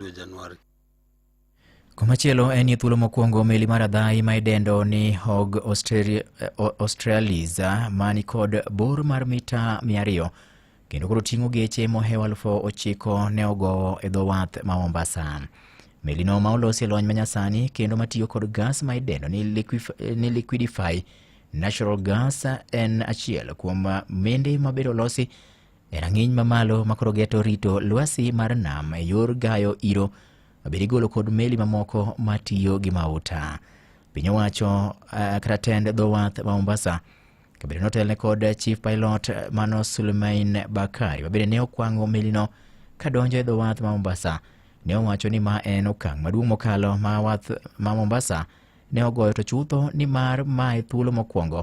dwe Januari. Komachielo en ni thuolo mokwongo meli mar adhayi ma idendo ni Hog Australia- eh, O- Australis ah, ma ni kod bor mar mita 200 kendo koro ting'o geche mohewo aluf ochiko ne ogowo e dho wath ma Mombasa. Melino ma olosi e lony manyasani kendo matiyo kod gas ma idendo ni, liquif- eh, ni liquidify natural gas ah, en achiel kuom ah, mende mabedo olosi E rang'iny mamalo ma koro geto rito lwasi mar nam e yor gayo iro bed igolo kod meli mamoko matiyo gi mauta. Piny owacho eh, kata tend dho wath ma Mombasa kabedo notelne kod chief pilot mano Suleiman Bakari mabende ne okwango melino kadonjo e dho wath ma Mombasa ne owacho ni ma en okang' maduong' mokalo ma wath ma Mombasa ne ogoyo to chutho ni mar ma e thuolo mokwongo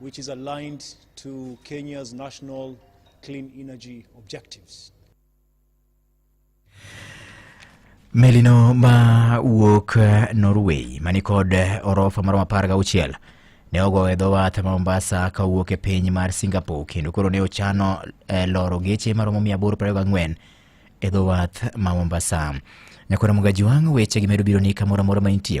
which is aligned to Kenya's national clean energy objectives. Melino ma wuok eh, Norway manikod eh, orofa maromo apar gauchiel ne ogo e dho wath ma Mombasa ka wuok e piny mar Singapore kendo koro ne ochano eh, loro geche maromo 824 e dho wath ma Mombasa. Nyakora Mugajwang' weche gi medo biro ni kamoro amora ma intie